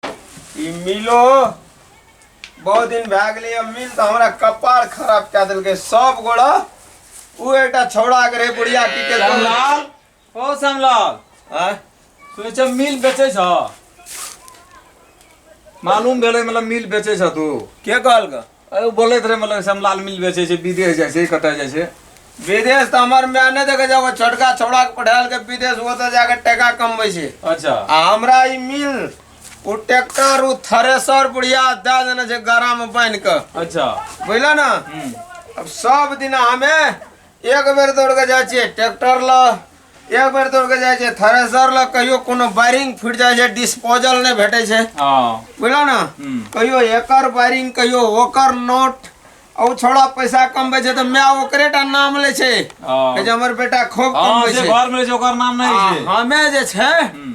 ई मिलो बहुत दिन भए गेलै अब मिल तऽ हमरा कपार खराब कए देलकै सब गोड़ा ओ एकटा छौड़ा के रहे बुढ़िया की के श्यामलाल ओ श्यामलाल आँय? सुनै छ मिल बेचै छ मालूम भेलै मतलब मिल बेचै छ तू के कहलक अ ओ बोलैत रहे मतलब समलाल मिल बेचै छै विदेश जाइ छै कतय जाइ छै विदेश तऽ हमर माय नहि देखे छै एगो छोटका छौड़ा के पढ़ायल के विदेश ओतऽ जाके टका कमबै छै अच्छा आ हमरा ई मिल ओ ट्रैक्टर ओ थ्रेसर बुढ़िया दए देने छै गड़ा में बान्हि कऽ अच्छा बुझल ने हम्म, अब सब दिन हमे एक बेर दौड़ के जाइ छियै ट्रैक्टर ल एक बेर दौड़ के जाए थ्रेसर लग कहियो कोनो वायरिंग फूट जाए डिस्पोजल नहीं भेटे छे बुझल ना हम्म। कहियो एकर वायरिंग कहियो ओकर नोट और थोड़ा पैसा कम बचे तो मैं ओकरे टा नाम ले छे हमर बेटा खूब कम बचे घर में जो ओकर नाम नहीं छे हमें जे छे हम्म।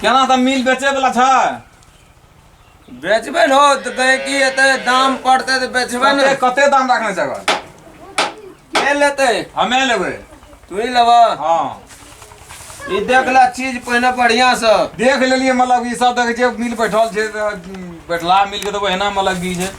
केना तऽ मिल बेचे वाला छै बेचबे ने हो तऽ कहे कि एते दाम पड़ते तऽ बेचबे ने कते कते दाम रखने छै अगर के लेते हमे लेबै तू ही लेबा हँ ई देख ले चीज पहिने बढ़िया से देख लेलियै मतलब ई सब देख जे मिल बैठल छै तऽ बैठला मिल के तऽ ओहिना मतलब बीज है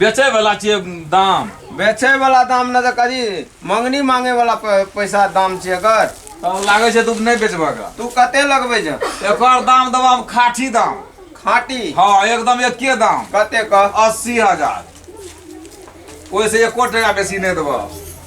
बेचे वाला छियै दाम बेचे वाला दाम ना तो करी मंगनी मांगे वाला प- पैसा दाम छै एकर तब लागै छै तू नहि बेचबह का तू कते लगबे छ एकर दाम देबह हम खाठी दाम खाटी हँ एकदम एके दाम कते कह अस्सी हजार ओहिसँ एको टाका बेसी नहि देबह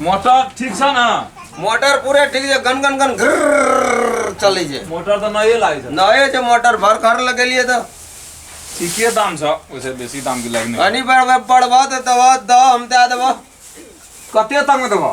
मोटर ठीक छ ना मोटर पूरे ठीक छै गन गन गन घर चलै छै मोटर त नए लागै छै नए छै मोटर भर घर लगेलिए त ठीके दाम छ ओसे बेसी दाम के लागने अनि पर पड़बा त दवा द हम दे देबो कते तक में देबो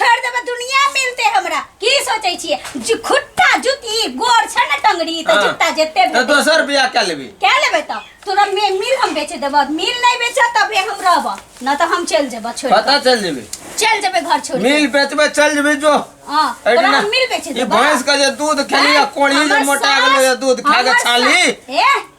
छोड़ देबे दुनिया मिलते हमरा की सोचै छियै जु- खुट्टा जुती गोर छै ने टंगड़ी तऽ हाँ। जुत्ता जेते तो भेटै। दोसर बियाह कर लेबी क्या लेबै तऽ तोरा मे मिल हम बेच देबऽ मिल नहि बेचऽ तबे हम रहबऽ न तऽ हम चलि जेबऽ छोड़ पता चल जेबी चलि जेबै घर छोड़ मिल बेचबे चल जेबी जो हाँ तोरा एहिना- हम मिल बेच ई देबऽ भैंस के जे दूध खेली आ कोढ़ी जे मोटा गेलो ये दूध खा के छाली ए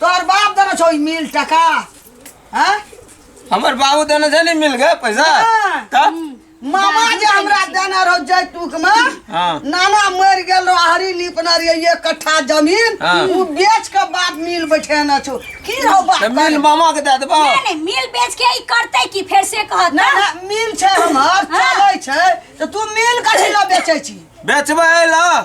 तोहर बाप देने छौ ई मिल टका हैं हमर बाबू देने छै ने मिल गए पैसा हाँ। तब मामा जे हमरा देने रहो जैतूक में हाँ। नाना मर गेल रहो हरी नीपना रहिए ये कट्ठा जमीन हाँ। उ बेच के बाप मिल बैठेने छौ की रहो बाप तऽ मिल मामा के दए देबो नहीं नहीं मिल बेच के ई करते की फिर से कहत ना ना मिल छै हमर हाँ। चलै छै तऽ तू मिल कथी लए बेचै छी बेचबै लऽ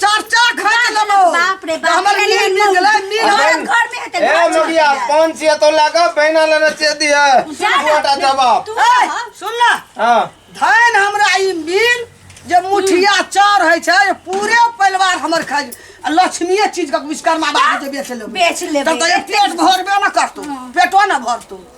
चार चार घर के लोग हो। बाप रे बाप, हमर अरे मिल लोग। मिल मिल हमारा हमारा घर में है तो ए घर छोड़ मगिया दिया। कौन सी है तो लगा बहना लेना चाहिए दिया जा ना, छोटा जवाब तू ए, ना। सुन ना हाँ धन हमरा ई मिल जे मुठिया चार है छै जे पूरे परिवार हमर खाइ आ लक्ष्मीए चीज के विश्वकर्मा बाबू जे बेच लेबै बेच लेबै। तब तऽ जे पेट भरबे न करतू पेटो न भरतू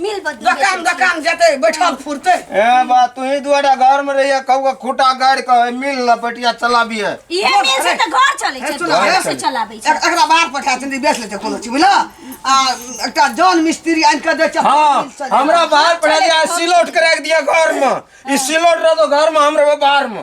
मिल बदल दोकान दोकान जेतै बैठल फुरतै ए बा तू ही दुआरा घर में रहिए कहू के खूटा गाड़ के है, मिल ना पटिया चलाबिए इहे मिल से तऽ घर चलै छै चलो, घर घर से चलै। चलाबै छै एक- एकरा बाहर पठा दिंदी बेच लेते कोनो चीज बुझला आ एकटा जन मिस्त्री आनि के दे चप्पल हाँ मिल सजा। हमरा बाहर पढ़ा दिया सिलोट के रख दिया घर में ई सिलोट रह दो घर में हम रहो बाहर में